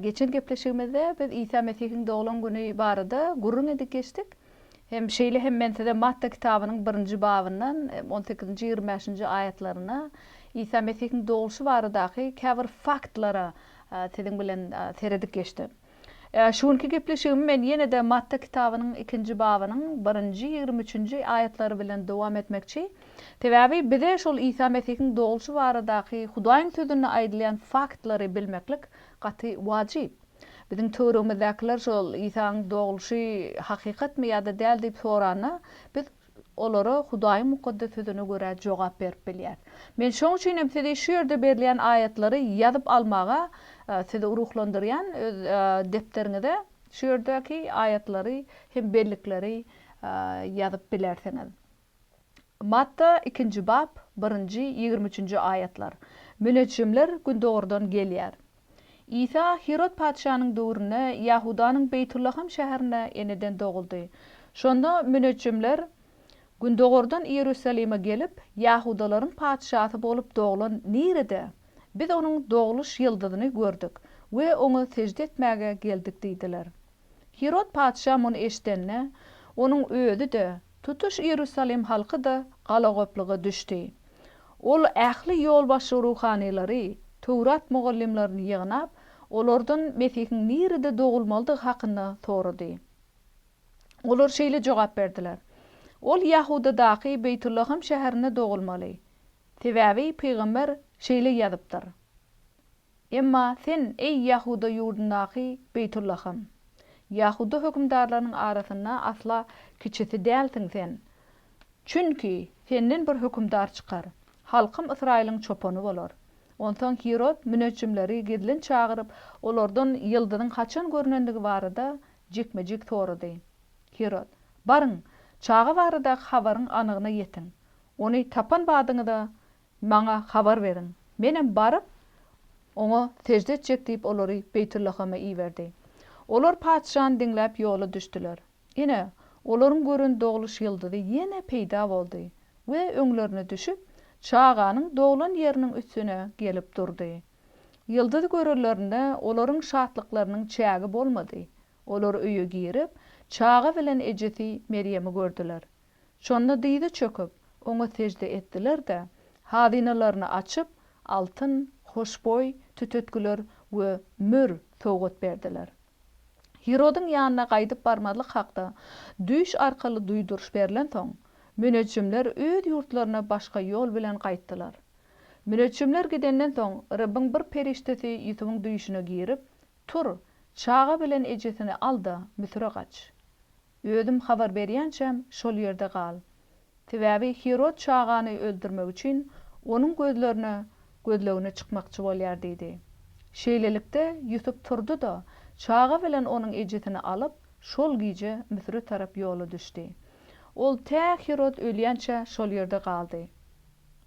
Geçen gepleşigimizde biz Isa Mesihiň doglan güni barada gürrüň edip geçdik. Hem şeýle hem men size Matta kitabynyň birinji babyndan on sekizinji, ýigrimi bäşinji aýatlaryna Isa Mesihiň dogluşy baradaky käbir faktlara siziň bilen seredip geçdim. Şu günki gepleşigimi men ýene-de Matta kitabynyň ikinji babynyň birinji, ýigrimi üçünji aýatlary bilen dowam etmekçi. Sebäbi bize şol Isa Mesihiň dogluşy baradaky Hudaýyň Sözünde aýdylýan faktlary bilmeklik gaty wajyp. Biziň töweregimizdekiler şol Isanyň dogluşy hakykatmy ýa-da däl diýip soranda, biz olara Hudaýyň Mukaddes Sözüne görä jogap berip bilýäris. Men şoň üçin hem sizi şu ýerde berilýän aýatlary ýazyp almaga sizi ruhlandyrýan, öz depderiňize şu ýerdäki aýatlary hem bellikleri ýazyp bilersiňiz. Matta, ikinji bap, birinji, ýigrimi üçünji aýatlar. Müneçjimler gündogurdan gelýär. Isa Hirod patyşanyň döwründe Ýahudanyň Beýtullaham şäherinde eneden doguldy. Şonda müneçjimler gündogurdan Iýerusalime gelip, Ýahudalaryň patyşasy bolup doglan nirede? Biz onuň dogluş ýyldyzyny gördük we oňa sežde etmäge geldik diýdiler. Hirod patyşa muny eşidende, onuň özi-de, tutuş Iýerusalim halky-da galagoplyga düşdi. Ol ähli ýolbaşçy ruhanylary, Töwrat mugallymlaryny ýygnap, olardan Mesihiň nirede dogulmalydygy hakynda sorady. Olar şeýle jogap berdiler, Ol Ýahudadaky Beýtullahym şäherinde dogulmaly. Sebäbi pygamber şeýle ýazypdyr. Emma sen, eý, Ýahuda ýurdundaky Beýtullahym, Ýahuda hökümdarlarynyň arasynda asla kiçisi dälsiň sen. Çünki senden bir hökümdar çykar, halkym Ysraýylyň çopany bolar. Onsoň Hirod müneçjimleri gizlin çagyryp, olardan ýyldyzyň haçan görnendigi barada jikme-jik sorady. Hirod, Baryň, çaga baradaky habaryň anygyna ýetiň. Ony tapan badyňyza, Maňa habar beriň. Menem baryp, Oňa sežde etjek diýip, olary Beýtullahama iberdi. Olar patyşany diňläp ýola düşdüler. Ine, olaryň gören dogluş ýyldyzy ýene peýda boldy we öňlerine düşüp, çaganyň doglan ýeriniň üstüne gelip durdy. Ýyldyzy görenlerinde olaryň şatlyklarynyň çägi bolmady. Olar öýe girip, çaga bilen ejesi Merýemi gördüler. Şonda dyza çöküp, oňa sežde etdiler-de, hazynalaryny açyp, altyn, hoşboý, tütetgiler we mür sowgat berdiler. Hirodyň ýanyna gaýdyp barmazlyk hakda düýş arkaly duýduryş berlensoň, müneçjimler öz ýurtlaryna başga ýol bilen gaýtdylar. Müneçjimler gidenden soň, Rebbiň bir perişdesi Ýusubyň düýşüne girip, Tur, çaga bilen ejesini al-da, Müsüre gaç. Özüm habar berýänçäm şol ýerde gal. Sebäbi Hirod çagany öldürmek üçin onuň gözlerine gözlegine çykmakçy bolýar diýdi. Şeýlelikde, Ýusup turdy-da, çaga bilen onuň ejesini alyp, şol gije Müsüre tarap ýola düşdi. Ol tä Hirod ölýänçä şol ýerde galdy.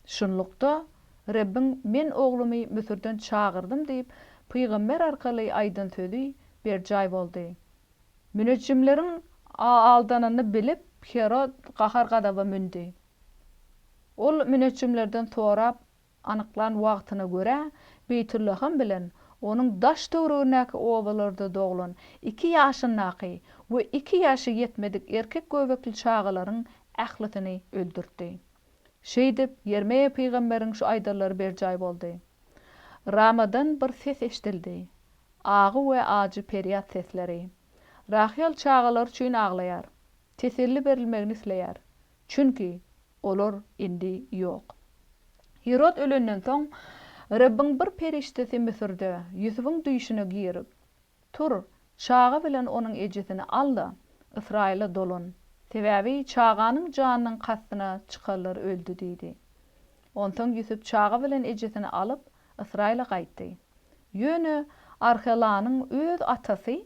Şunlukda, Rebbiň, Men oglumy Müsürden çagyrdym diýip, pygamber arkaly aýdan sözi berjaý boldy. Müneçjimleriň aldanyny bilip, Herod gahar-gazaba mündi. Ol müneçjimlerden sorap anyklan wagtyna görä, Beýtullahym bilen onuň daş-töweregindäki obalarda doglan iki ýaşyndaky we iki ýaşy ýetmedik erkek göbekli çagalaryň ählisini öldürtdi. Şeýdip, Ýermeýa pygamberiň şu aýdanlary berjaý boldy. Ramadan bir ses eşidildi, agy we ajy perýat sesleri. Rahyýal çagalary üçin aglaýar, teselli berilmegini isleýär, çünki olar indi ýok. Hirod ölenden soň, Rebbiň bir perişdesi Müsürde Ýusubyň düýşüne girip, Tur, çaga bilen onuň ejesini al-da, Ysraýyla dolan, sebäbi çaganyň janynyň kastyna çykarlar öldi diýdi. Onsoň Ýusup çaga bilen ejesini alyp, Ysraýyla gaýtdy. Ýöne Arhelanyň öz atasy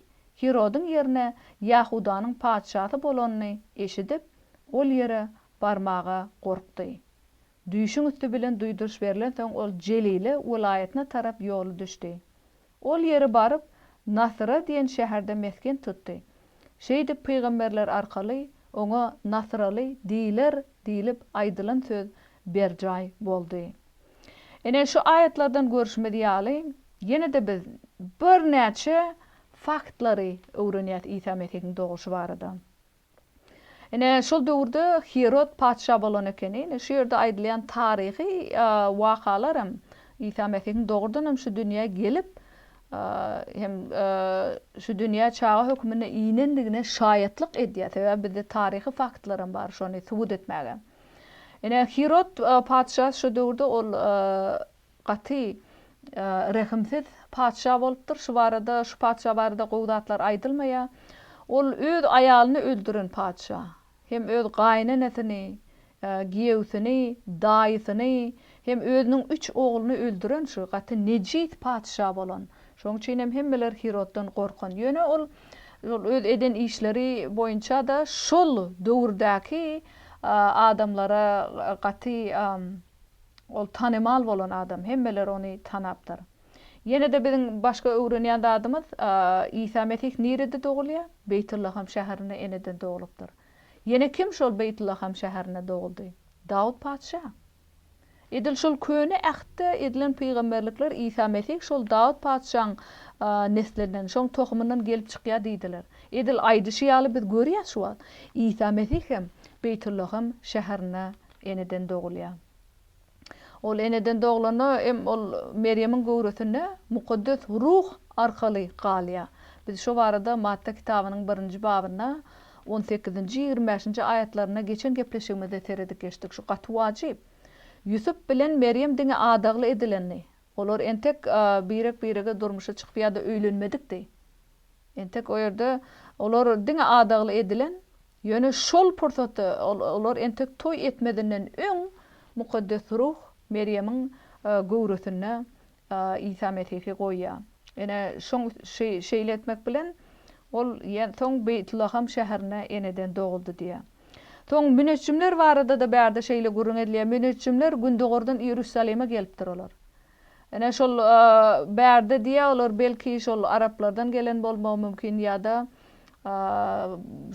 Hirodyň ýerine Ýahudanyň patyşasy bolanyny eşidip, ol ýere barmaga gorkdy. Düýşüň üsti bilen duýduryş berlensoň, ol Jelile welaýatyna tarap ýola düşdi. Ol ýere baryp, Nasyra diýen şäherde mesgen tutdy. Şeýdip pygamberler arkaly oňa Nasyraly diýiler diýlip aýdylan söz berjaý boldy. Ine, şu aýatlardan görşümiz ýaly, ýene-de biz birnäçe faktlary öwrenýäs Isa Mesihiň doguşy barada. Ine, şol döwürde Hirod patyşa bolan ekeni. Ine, şu ýerde aýdylýan taryhy wakalar hem Isa Mesihiň dogrudan hem şu dünýä gelip hem şu dünýä çaga höküminde inendigine şaýatlyk edýär. Sebäbi bizde taryhy faktlar hem bar şony subut etmäge. Ine, Hirod patyşa şu döwürde ol Gaty rehimsiz patyşa bolupdyr. Şu barada, şu patyşa barada gowy zatlar aýdylmaýa. Ol öz aýalyny öldüren patyşa. Hem öz gaýynenesini, giýewsini, daýysyny, hem özüniň üç ogluny öldüren şu gaty nejis patyşa bolan. Şoň üçin hem hemmeler Hiroddan gorkan. Ýöne ol şol öz eden işleri boýunça-da şol döwürdäki adamlara gaty. Ol tanymal bolan adam, hemmeler ony tanapdyr. Ýene-de biziň başga öwrenýän zadymyz, Isa Mesih nirede dogulýar? Beýtullaham şäherinde eneden doglupdyr. Ýene kim şol Beýtullaham şäherinde doguldy? Dawut patyşa. Edil şol Köne Ähtde edilen pygamberlikler Isa Mesih şol Dawut patyşaň neslinden, şoň tohumyndan gelip çykýar diýdiler. Edil aýdyşy ýaly biz görýäs şu wagt, Isa Mesih hem Beýtullaham şäherinde Eneden dogulýar. Ol eneden doglanda hem ol Merýemiň göwresinde Mukaddes Ruh arkaly galýar. Biz şo barada Matta kitabynyň birinji babynda on sekizinji, ýigrimi bäşinji aýatlarynda geçen gepleşigimizde seredip geçdik. Şu gaty wajyp. Ýusup bilen Merýem diňe adagly edilendi. Olar entek birek-birege durmuşa çykyp ýa-da öýlenmedikdi. Entek o ýerde olar diňe adagly edilen Ýöne şol pursatda olar entek toý etmezinden öň Mukaddes Ruh Merýemiň göwresinde Isa Mesihi goýýar. Ine, şoň şeýle etmek bilen, ol soň Beýtlaham şäherinde eneden doguldy diýýär. Soň müneçjimler barada-da bärde şeýle gürrüň edilýär, Müneçjimler gündogardan Iýerusalime gelipdir olar. Ine şol bärde diýýä olar belki şol araplardan gelen bolmagy mümkin ýa-da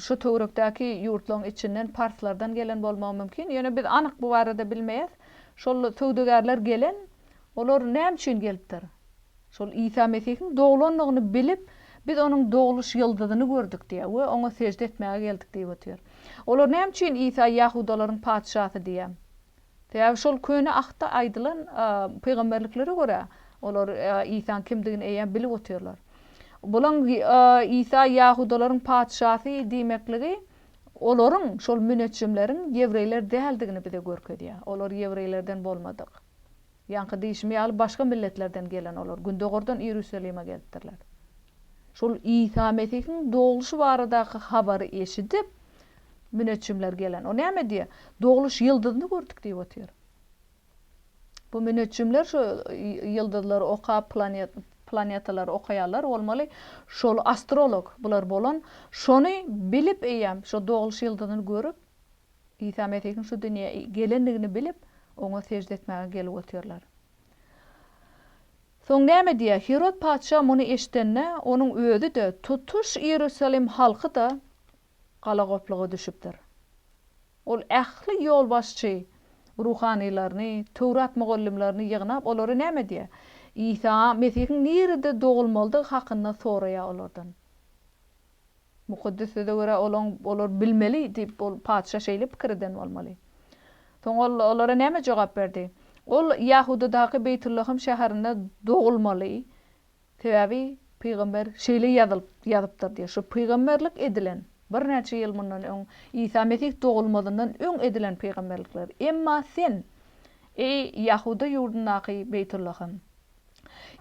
şu töwerekdäki ýurtlaryň içinden parslardan gelen bolmagy mümkin. Ýöne biz anyk bu barada bilmeýäs. Şol söwdagärler gelen, olar näme üçin gelipdir? Şol Isa Mesihiň doglandygyny bilip, biz onuň dogluş ýyldyzyny gördük diýýä we oňa sežde etmäge geldik diýip otyr. Olar näme üçin Isa ýahudalaryň patyşasy diýýä Sebäbi şol Köne Ahtda aýdylan pygamberliklere görä, olar Isaň kimdigini eýýäm bilip otyrlar. Bulaň Isa ýahudalaryň patyşasy diýmekligi olaryň, şol müneçjimleriň ýewreýler däldigini bize görkezýär. Olar ýewreýlerden bolmadyk. Ýaňky diýşim ýaly başga milletlerden gelen olar, gündogardan Iýerusalime gelipdirler. Şol Isa Mesihiň dogluş baradaky habary eşidip, müneçjimler gelen. O näme diýýär? Dogluş ýyldyzyny gördük diýip otyr. Bu müneçjimler şu ýyldyzlary okap, planetalary okaýarlar, bolmaly, şol astrolog bular bolan, şony bilip eýýäm, şo dogluş ýyldyzyny görüp, Isa Mesihiň şu dünýä gelendigini bilip, oňa sežde etmäge gelip otyrlar. Soň näme diýýär? Hirod patyşa muny eşidende, onuň özi-de, tutuş Iýerusalim halky-da galagopluga düşüpdir. Ol ähli ýolbaşçy ruhanylaryny, Töwrat mugallymlaryny ýygnap, olara näme diýýär? Isa Mesihiň nirede dogulmalydygy hakynda soraýar olardan. Mukaddes Söze görä, olaň, olar bilmeli diýip, ol patyşa şeýle pikir eden bolmaly. Soň ol olara näme jogap berdi? Ol Ýahudadaky Beýtullahym şäherinde dogulmaly, sebäbi pygamber şeýle ýazylyp, ýazypdyr diýip, şu pygamberlik edilen, birnäçe ýyl mundan öň, Isa Mesih dogulmazyndan öň edilen pygamberlikler. Emma sen, eý, Ýahuda ýurdundaky Beýtullahym!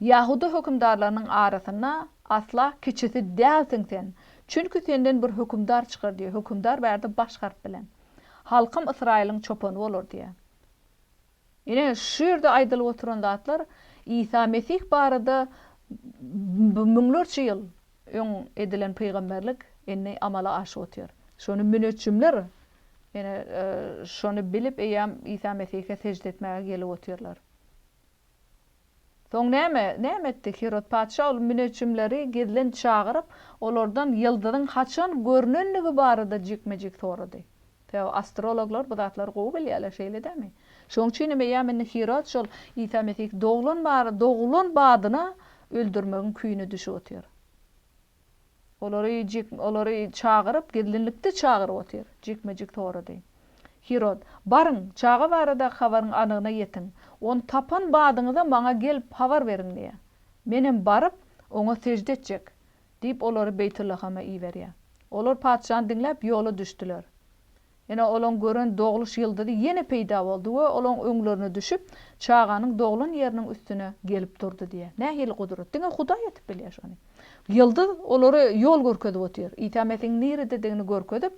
Ýahuda hökümdarlarynyň arasynda asla kiçisi dälsiň sen, çünki senden bir hökümdar çykar diýýär. Hökümdar bärde baş harp bilen. Halkym Ysraýylyň çopany bolar diýýär. Ine, şu ýerde aýdylyp oturan zatlar Isa Mesih barada bu müňlerçe ýyl öň edilen pygamberlik indi amala aşyp otyr. Şony müneçjimler, ine, şony bilip eýýäm Isa Mesihe sežde etmäge gelip otyrlar. Soň näme, näme etdi? Hirod patyşa ol müneçjimleri gizlin çagyryp, olardan ýyldyzyň haçan görnendigi barada jikme-jik sorady. Sebäbi astrologlar bu zatlary gowy bilýärler, şeýle dälmi? Şonuň üçin hem eýýäm indi Hirod şol Isa Mesih doglan, dogulan badyna öldürmegiň küýüne düşüp otyr. Olary jik, olary çagyryp, gizlinlikde çagyryp otyr. Jikme-jik sorady. Hirod, Baryň, çaga baradaky habaryň anygyna ýetiň. Ony tapan badyňyza maňa gelip habar beriň diýýär. Menem baryp, oňa sežde etjek, diýip, olary Beýtullahama iberýär. Olar patyşany diňläp, ýola düşdüler. Ine, olaň gören dogluş ýyldyzy ýene peýda boldy we olaň öňlerine düşüp, çaganyň doglan ýeriniň üstüne gelip durdy diýýär. Nähili gudrat! Diňe Hudaý edip bilýär şony. Ýyldyz olara ýol görkezip otyr. Isa Mesihiň nirededigini görkezip,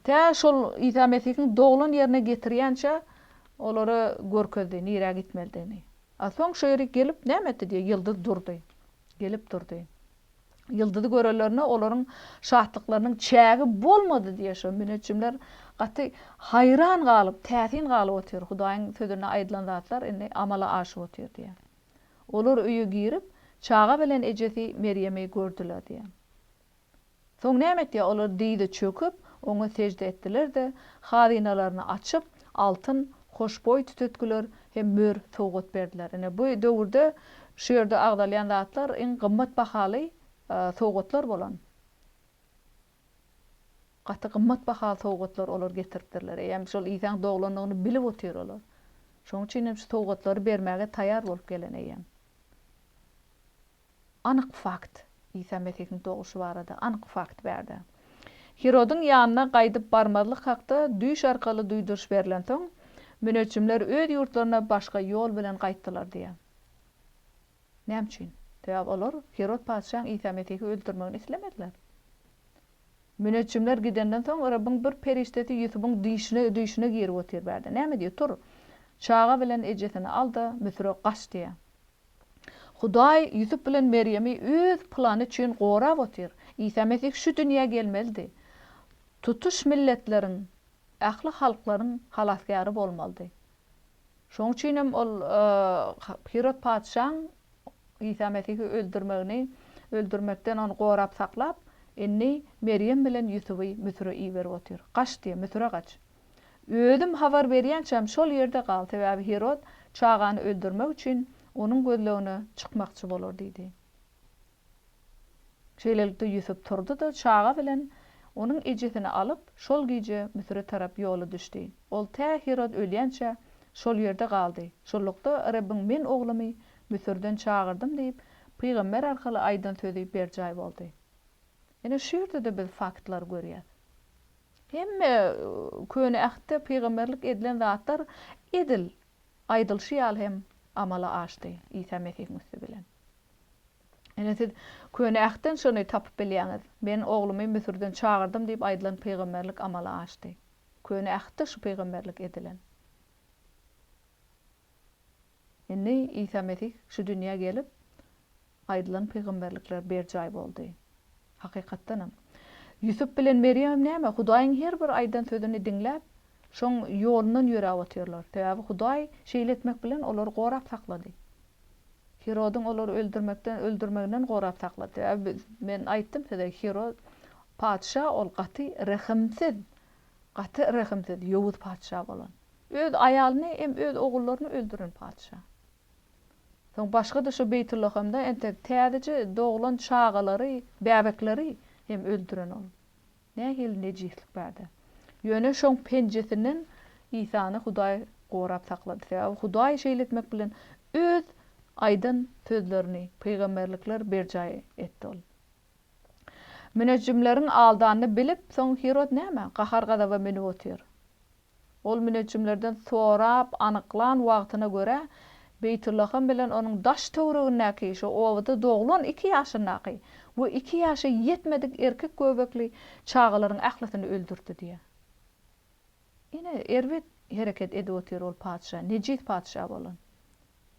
tä şol Isa Mesihiň doglan ýerine getirýänçä olara görkezdi, nirä gitmelidigini. A soň şo ýeri gelip näme etdi diýýär, ýyldyz durdy. Gelip durdy. Ýyldyzy görenlerine olaryň şatlyklarynyň çägi bolmady diýýär şo müneçjimler gaty haýran galyp, täsin galyp otyr, Hudaýyň sözünde aýdylan zatlar indi amala aşyp otyr diýýär. Olar öýe girip, çaga bilen ejesi Merýemi gördüler diýýär. Soň näme etdiýär? Olar dyza çöküp, oňa sežde etdiler-de, hazynalaryny açyp, altyn hoşboý tütetgiler hem mör sowgat berdiler. Ine, bu döwürde şu ýerde agzalýan zatlar iň gymmat bahaly sowgatlar bolan. Gaty gymmat bahaly sowgatlar olar getiripdirler. Eýýäm şol Isaň doglandygyny bilip otyr olar. Şonuň üçin hem şu sowgatlary bermäge taýýar bolup gelen eýýäm. Anyk fakt, Isa Mesihiň doguşy barada anyk fakt bärde. Hirodyň ýanyna gaýdyp barmazlyk hakda düýş arkaly duýduryş berlensoň, müneçjimler öz ýurtlaryna başga ýol bilen gaýtdylar diýýär. Näme üçin? Sebäbi olar Hirod patyşaň Isa Mesihi öldürmegini islemediler. Müneçjimler gidenden soň Rebbiň bir perişdesi Ýusubyň düýşüne düýşüne girip otyr bärde. Näme diýýär? Tur, çaga bilen ejesini al-da, Müsüre gaç diýýär. Hudaý Ýusup bilen Merýemi Öz plany üçin gorap otyr. Isa Mesih şu dünýä gelmelidi. Tutuş milletleriň, ähli halklaryň Halasgäri bolmalydy. Şonuň üçin hem ol Hirod patyşaň Isa Mesihi öldürmegini, öldürmekden ony gorap saklap, indi Merýem bilen Ýusuby Müsüre iberip otyr. Gaç diýýär, Müsüre gaç. Özüm habar berýänçäm şol ýerde gal, sebäbi Hirod çagany öldürmek üçin onuň gözlegine çykmakçy bolar diýdi. Şeýlelikde, Ýusup turdy-da, çaga bilen onuň ejesini alyp, şol gije Müsüre tarap ýola düşdi. Ol tä Hirod ölýänçä şol ýerde galdy. Şunlukda, Rebbiň Men oglumy Müsürden çagyrdym diýip, pygamber arkaly aýdan sözi berjaý boldy. Ine, şu ýerde-de biz faktlary görýäs. Hemme Köne Ähtde pygamberlik edilen zatlar edil aýdylyşy ýaly hem amala aşdy Isa Mesihiň üsti bilen. Ine, siz Köne Ähtden şony tapyp bilýäňiz, Men Oglumy Müsürden çagyrdym diýip aýdylan pygamberlik amala aşdy. Köne Ähtde şu pygamberlik edilen. Indi Isa Mesih şu dünýä gelip, Aýdylan pygamberlikler berjaý boldy. Hakykatdanam, Ýusup bilen Merýem näme, Hudaýyň her bir aýdan sözüni diňläp, şoň ýolundan ýöräp otyrlar. Sebäbi Hudaý şeýle etmek bilen olary gorap saklady. Hirodyň olary öldürmekden öldürmeginden gorap saklady. Sebäbi men aýtdym size, Hirod patyşa ol gaty rehimsiz, gaty rehimsiz, ýowuz patyşa bolan. Öz aýalyny hem öz ogullaryny öldüren patyşa. Soň başga-da şu Beýtullahamda entek täzeje doglan çagalary, bäbekleri hem öldüren ol. Nähili nejislik bärde! Ýöne şoň penjesinden Isany Hudaý gorap saklady. Sebäbi Hudaý şeýle etmek bilen Öz aýdan sözlerini, pygamberlikler berjaý etdi ol. Münejjimleriň aldanyny bilip, soň Hirod näme, gahar-gazaba münüp otyr. Ol müneçjimlerden sorap anyklan wagtyna görä, Beýtullaham bilen onuň daş-töweregindäki, şo obada doglan iki ýaşyndaky we iki ýaşa ýetmedik erkek göbekli çagalaryň ählisini öldürdi diýýär. Ine, erbet hereket edip otyr ol patyşa, nejis patyşa bolan.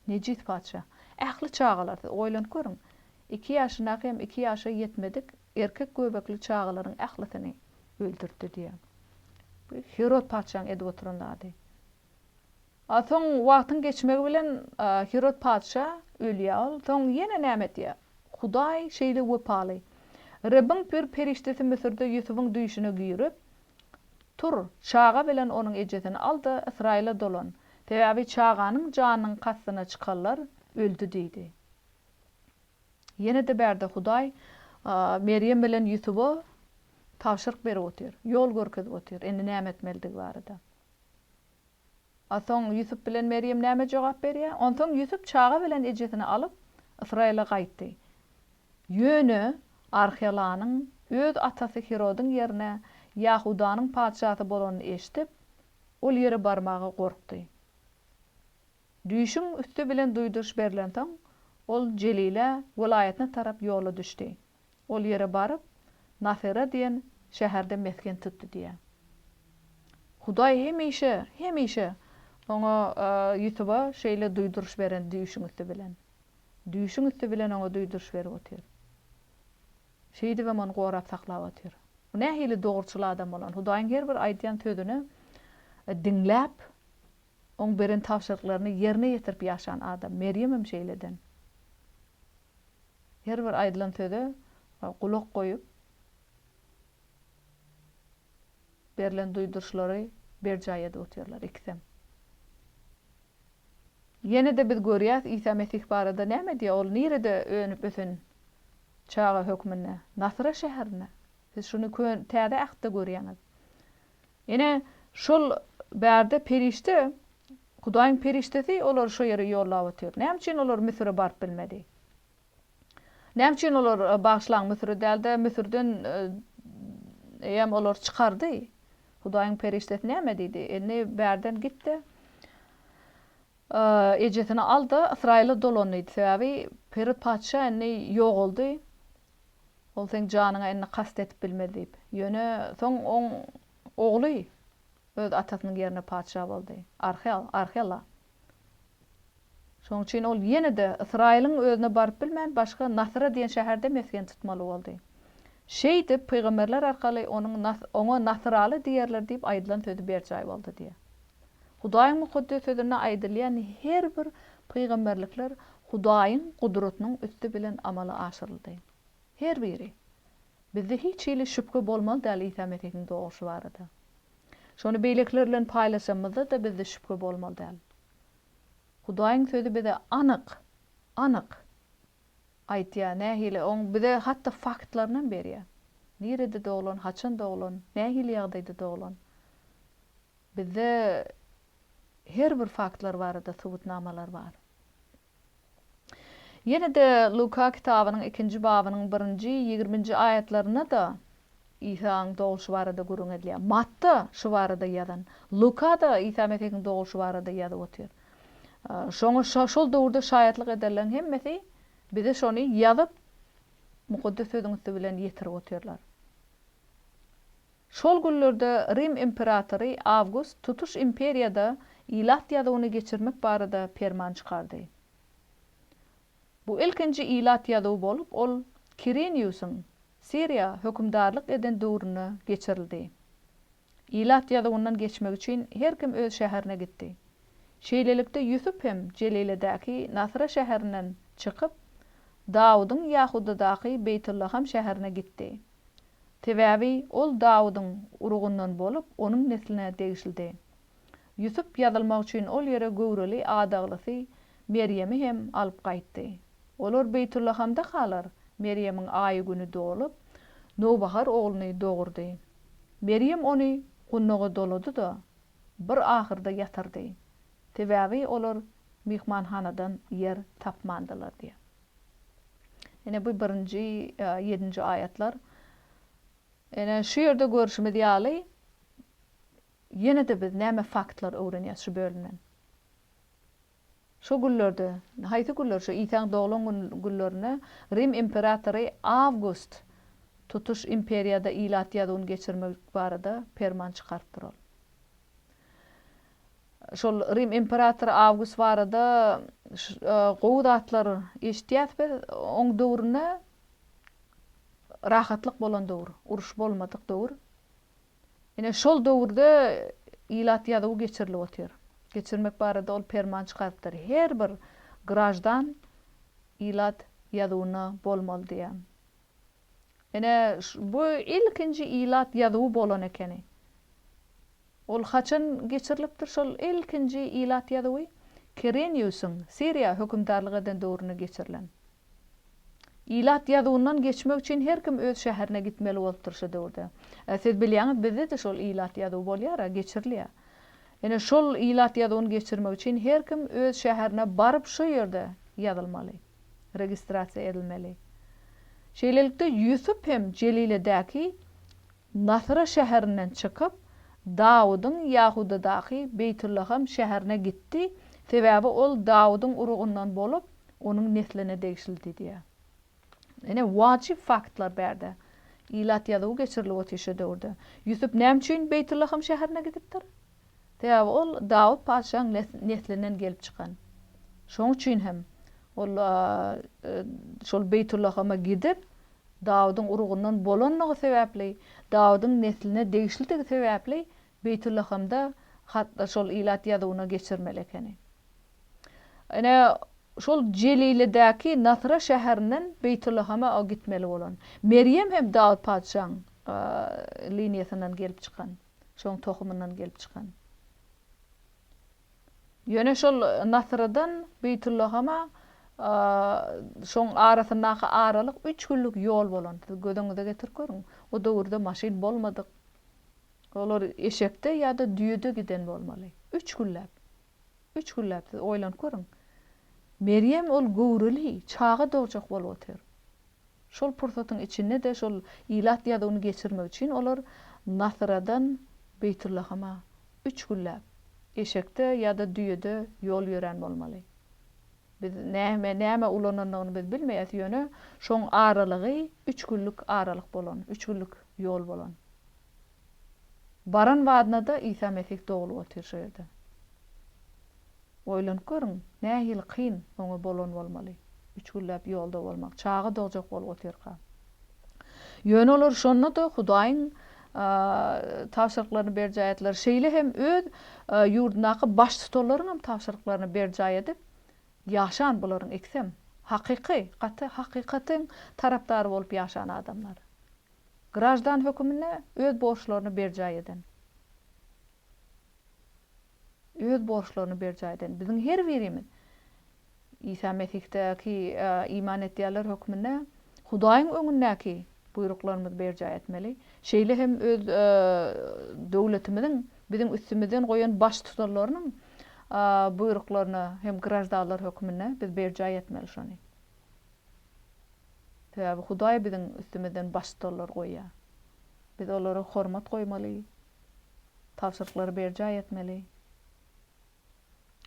Nejis patyşa. Ähli çagalar, siz oýlanyp görüň, iki ýaşyndaky hem iki ýaşa ýetmedik Erkek göbekli çagalaryň ählisini öldürdi diýýär. Bu Hirod patyşaň edip oturan zady. A soň wagtyň geçmegi bilen Hirod patyşa ölýär ol. Soň ýene näme edýär? Hudaý şeýle wepaly. Rebbiň bir perişdesi Müsürde Ýusubyň düýşüne girip, Tur, çaga bilen onuň ejesini al-da, Ysraýyla dolan. Sebäbi çaganyň janynyň kastyna çykanlar öldi diýdi. Ýene-de bärde Hudaý Merýem bilen Ýusuba tabşyryk berip otyr, ýol görkezip otyr, indi näme etmelidigi barada. A soň Ýusup bilen Merýem näme jogap berýär? Onsoň Ýusup çaga bilen ejesini alyp, Ysraýyla gaýtdy. Ýöne Arhelanyň öz atasy Hirodyň ýerine Ýahudanyň patyşasy bolanyny eşidip, ol ýere barmaga gorkdy. Düýşüň üsti bilen duýduryş berlensoň, ol Jelile welaýatyna tarap ýola düşdi. Ol ýere baryp, Nasyra diýen şäherde mesgen tutdy diýýär. Hudaý hemişe, hemişe oňa, Ýusuba şeýle duýduryş beren düýşüň üsti bilen. Düýşüň üsti bilen oňa duýduryş berip otyr. Şeýdibem ony gorap saklap otyr. Bu nähili dogruçyl adam bolan, Hudaýyň her bir aýdýan sözüni diňläp, Oň beren tabşyryklaryny ýerine ýetirip ýaşan adam. Merýemem şeýleden. Her bir aýdylan söze gulak goýup, berlen duýduryşlary berjaý edip otyrlar ikisem. Ýene-de biz görýäs, Isa Mesih barada näme diýýär? Ol nirede önüp-ösen çaga hökmünde? Nasra şäherinde. Siz şuny Täze Ähtde görýäňiz. Ine, şol bärde perişde, Hudaýyň perişdesi olary şo ýere ýollap otyr. Näme üçin olar Müsüre baryp bilmedi? Näme üçin olar, bagyşlaň, Müsüre däl-de, Müsürden ýam olary çykardy? Hudaýyň perişdesi näme diýdi? Indi bärden git-de, ejesini al-da, Ysraýyla dolan diýdi. Sebäbi Hirod patyşa indi ýogaldy. Ol seň janyňa indi kast edip bilmez diýip. Ýöne soň oň ogly öz atasynyň ýerine patyşa boldy. Arhel, Arhela. Şoň üçin ol ýene-de Ysraýylyň özüne baryp bilmän, başga Nasyra diýen şäherde mesgen tutmaly boldy. Şeýdip, pygamberler arkaly onuň Nas, oňa Nasyraly diýerler diýip aýdylan sözi berjaý boldy diýýär. Hudaýyň Mukaddes Sözünde aýdylýan her bir pygamberlikler Hudaýyň gudratynyň üsti bilen amala aşyryldy. Her biri. Bizde hiç hili şübhe bolmaly däl Isa Mesihiň doguşy barada. Şony beýlekiler bilen paýlaşanymyzda-da bizde şübhe bolmaly däl. Hudaýyň Sözi bize anyk, anyk aýtýar, nähili, Oň bize hatda faktlarynam berýär. Nirede doglan, haçan doglan, nähili ýagdaýda doglan. Bizde her bir faktlar barada subutnamalar bar. Ýene-de Luka kitabynyň ikinji babynyň birinji, ýigriminji aýatlarynda-da Isaň dogulyşy barada gürrüň edilýär. Matda şu barada ýazan. Luka-da Isa Mesihiň dogulyşy barada ýazyp otyr. Şoňa şol döwürde şaýatlyk edenleriň hemmesi bize şony ýazyp, Mukaddes Sözüň üsti bilen ýetirip otyrlar. Şol günlerde Rim imperatory Awgust tutuş imperiýada ilat ýazuwyny geçirmek barada perman çykardy. Bu ilkinji ilat ýazuwy bolup, ol Kiriniusyň Siriýa hökümdarlyk eden döwründe geçirildi. Ilat ýazuwyndan geçmek üçin her kim öz şäherine gitdi. Şeýlelikde Ýusup hem Jeliledäki Nasra şäherinden çykyp, Dawudyň Ýahudadaky Beýtullaham şäherine gitdi. Sebäbi ol Dawudyň urugyndan bolup, onuň nesline degişlidi. Ýusup ýazylmak üçin ol ýere göwreli adaglysy Merýemi hem alyp gaýtdy. Olar Beýtullahamdakalar Merýemiň aýy-güni dolup, nowbahar ogluny dogurdy. Merýem ony gundaga dolady-da, bir ahyrda ýatyrdy. Sebäbi olar myhmanhanadan ýer tapmandylar diýýär. Ine bu birinji, ýedinji aýatlar. Ene şu ýerde görşümiz ýaly ýene-de biz näme faktlar öwrenýäs şu bölümden? Şu günlerde, haýsy günler şu Isaň doglan günlerine Rim imperatory Awgust tutuş imperiýada ilat ýazuwyny geçirmek barada perman çykarypdyr ol. Şol Rim imperatory Awgust barada gowy zatlar eşitýäs biz. Oň döwründe rahatlyk bolan döwür, uruş bolmadyk döwür. Ine şol döwürde ilat ýazuwy geçirilip otyr. Geçirmek barada ol perman çykarypdyr. Her bir graždan ilat ýazuwyna bolmaly diýýär. Ine, bu ilkinji ilat ýazuwy bolan ekeni. Ol haçan geçirilipdir şol ilkinji ilat ýazuwy? Kireniusyň Siriýa hökümdarlyk eden döwründe geçirilen. Ilat ýazuwyndan geçmek üçin her kim öz şäherine gitmeli bolupdyr şo döwürde. Siz bilýäňiz, bizde-de şol ilat ýazuwy bolýar-a, geçirilýär. Ine, şol ilat ýazuwyny geçirmek üçin her kim öz şäherine baryp şo ýerde ýazylmaly. registrasiýa edilmeli. Şeýlelikde, Ýusup hem Jeliledäki Nasra şäherinden çykyp, Dawudyň Ýahudadaky Beýtullaham şäherine gitdi, sebäbi ol Dawudyň urugyndan bolup, onuň nesline degişlidi diýýär. Ine, wajyp faktlar bärde. Ilat ýazuwy geçirilip otyr şo döwürde. Ýusup näme üçin Beýtullaham şäherine gidipdir? Sebäbi ol Dawut patyşaň neslinden gelip çykan. Şonuň üçin hem ol şol Beýtullahama gidip, Dawudyň urugyndan bolanlygy sebäpli, Dawudyň nesline degişlidigi sebäpli Beýtullahamda hatda şol ilat ýazuwyna geçirmeli ekeni. Ine, şol Jelilidäki Nasra şäherinden Beýtullahama gitmeli bolan. Merýem hem Dawut patyşaň liniýasyndan gelip çykan. Şoň tohumyndan gelip çykan. Ýöne şol Nasyrydan Beýtullahama şoň arasyndaky aralyk üç günlük ýol bolan. Siz göz öňüňize getirip görüň. O döwürde maşyn bolmadyk. Olar eşekde ýa-da düýede giden bolmaly. Üç günläp. Üç günläp siz oýlanyp görüň. Merýem ol göwreli çaga dogjak bolup otyr. Şol pursatyň içinde-de şol ilat ýazuwyny geçirmek üçin olar Nasyradan Beýtullahama üç günläp eşekde ýa-da düýede ýol ýörän bolmaly. Biz näme näme ulanandygyny biz bilmeýäs, ýöne şoň aralygy üç günlük aralyk bolan, üç günlük ýol bolan. Baran badyna-da Isa Mesih doglup otyr şu ýerde. Oýlanyp görüň, nähili kyn Oňa bolan bolmaly, üç günläp ýolda bolmak, çaga dogjak bolup otyrka. Ýöne olar şonda-da Hudaýyň tabşyryklaryny berjaý etdiler, şeýle hem öz ýurdundaky baştutanlaryň hem tabşyryklaryny berjaý edip ýaşan bularyň ikisem hakyky, gaty hakykatyň tarapdary bolup ýaşan adamlar. Graždan höküminde öz borçlaryny berjaý eden. Öz borçlaryny berjaý eden. Biziň her birimiz Isa Mesihdäki iman etýänler hökmünde Hudaýyň öňündäki buýruklarymyzy berjaý etmeli. Şeýle hem öz döwletimiziň biziň üstümizden goýan baştutanlarynyň buýruklaryny hem graždanlar hökmünde biz berjaý etmeli şony. Sebäbi Hudaý biziň üstümizden baştutanlar goýýar. Biz olara hormat goýmaly, tabşyryklary berjaý etmeli.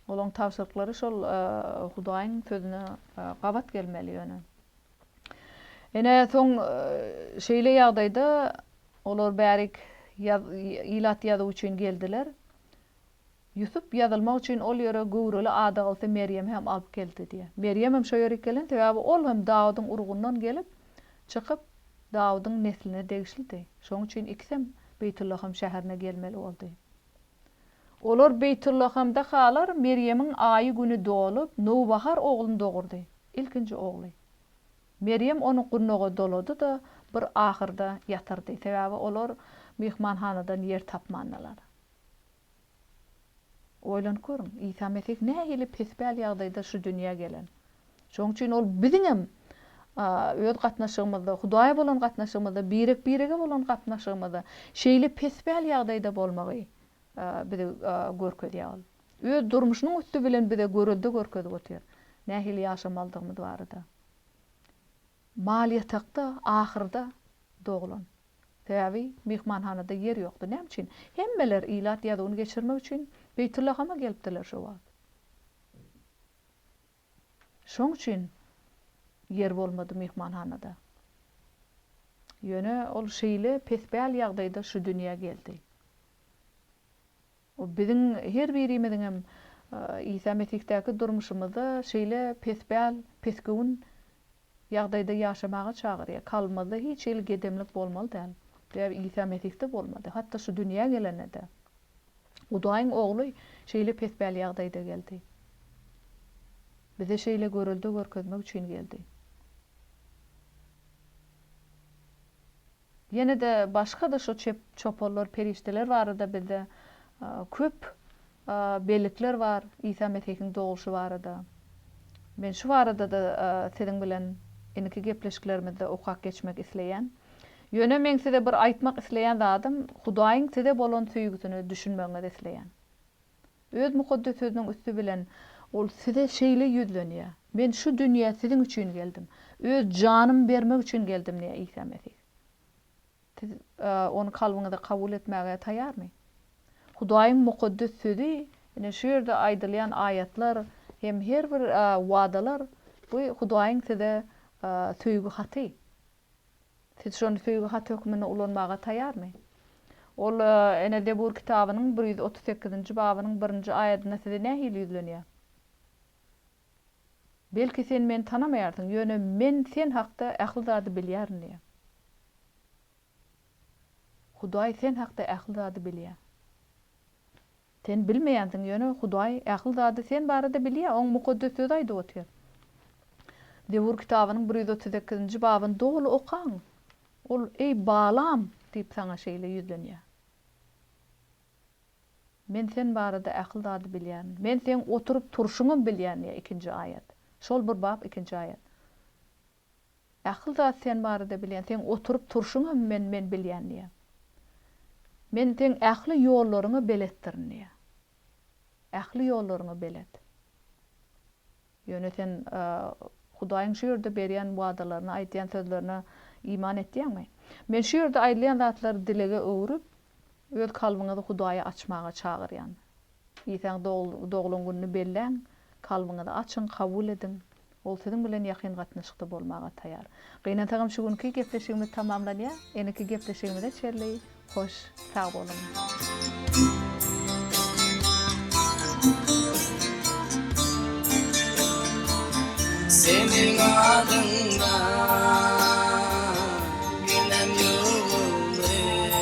Olaryň tabşyryklary şol Hudaýyň sözüne gabat gelmeli ýöne. Ine, soň şeýle ýagdaýda olar bärik ilat ýazuw üçin geldiler. Ýusup ýazylmak üçin ol ýere göwreli adagylsy Merýemi hem alyp geldi diýýär. Merýem hem şo ýere gelen, sebäbi ol hem Dawudyň urugyndan gelip, çykyp, Dawudyň nesline degişlidi. Şonuň üçin ikisem Beýtullaham şäherine gelmeli boldy. Olar Beýtullahamda halar Merýemiň aýy-güni dolup, nowbahar ogluny dogurdy, ilkinji ogly. Merýem ony gurnaga dolady-da, bir ahyrda ýatyrdy, sebäbi olar myhmanhanadan ýer tapmandylar. Oýlanyp görüň, Isa Mesih nähili pespäl ýagdaýda şu dünýä gelen. Şonuň üçin ol biziňem öz gatnaşygymyzda, Hudaýa bolan gatnaşygymyzda, birek-birege bolan gatnaşygymyzda şeýle pespäl ýagdaýda bolmagy bize görkezýär. Ol öz durmuşynyň üsti bilen bize görelde görkezip otyr, nähili ýaşamalydygymyz barada. Mal ýatakda, ahyrda doglan. Sebäbi myhmanhanada ýer ýokdy. Näme üçin? Hemmeler ilat ýazuwyny geçirmek üçin Beýtullahama gelipdirler şo wagt. Şoň üçin ýer bolmady myhmanhanada. Ýöne ol şeýle pespäl ýagdaýda şu dünýä geldi. Bu biziň her birimiziňem Isa Mesihdaky durmuşymyzda şeýle pespäl, pesgöwün ýagdaýda ýaşamaga çagyrýar. Kalbymyzda hiç hili gedemlik bolmaly däl. Sebäbi Isa Mesihde bolmady. Hatda şu dünýä gelende-de. Hudaýyň Ogly şeýle pespäl ýagdaýda geldi. Bize şeýle görelde görkezmek üçin geldi. Ýene-de başga-da şo çep çopollar, perişdeler barada bizde köp bellikler bar, Isa Mesihiň dogluşy barada. Men şu barada-da siziň bilen indiki gepleşiklerimizde okap geçmek isleýän. Ýöne meň size bir aýtmak isleýän zadym, Hudaýyň size bolan söýgüsine düşünmegiňizi isleýän. Öz mukaddes Sözüniň üsti bilen Ol size şeýle ýüzlenýär, Men şu dünýä siziň üçin geldim, Öz janymy bermek üçin geldim diýýär Isa Mesih. Siz Ony kalbyňyza kabul etmäge taýýarmy? Hudaýyň mukaddes Sözi, ine, şu ýerde aýdylýan aýatlar hem her bir wadalar, bu Hudaýyň size söýgi haty. Siz şony söýgi haty hökmünde ulanmaga taýarmy? Ol ene Zebur kitabynyň bir ýüz otuz sekizinji babynyň birinji aýadynda size nähili ýüzlenýär? Belki sen meni tanamaýarsyň, ýöne Men sen hakda ähli zady bilýärin diýýär. Hudaý sen hakda ähli zady bilýär. Sen bilmeýänsiň ýöne Hudaý ähli zady sen barada bilýär oň mukaddes sözi aýdyp otyr. Zebur kitabynyň bir ýüz otuz sekizinji babyny doly okaň. Ol eý Balam diýip saňa şeýle ýüzlenýär. Men sen barada ähli zady bilýän. Men seň oturyp turşuňam bilýän diýýär ikinji aýat. Şol bir bap ikinji aýat. Ähli zat sen barada bilýän. Seň oturyp turşuňam men men bilýän diýýär. Men seň ähli ýollaryňa beletdirin diýýär. Ähli ýollaryňa belet. Ýöne sen Hudaýyň şu ýerde berýän wadalaryna, aýdýan sözlerine iman etýäňmi? Men şu ýerde aýdylýan zatlary dilege öwrüp, öz kalbyňyzy Hudaýa açmaga çagyrýan. Isaň doglan gününi belläň, kalbyňyzy açyň, kabul ediň. Ol siziň bilen ýakyn gatnaşykda bolmaga taýar. Gynansagam şu günki gepleşigimiz tamamlanýar. Eneki gepleşigimize çenli hoş sag boluň. Seniň adyňdan giden ýylgyrym.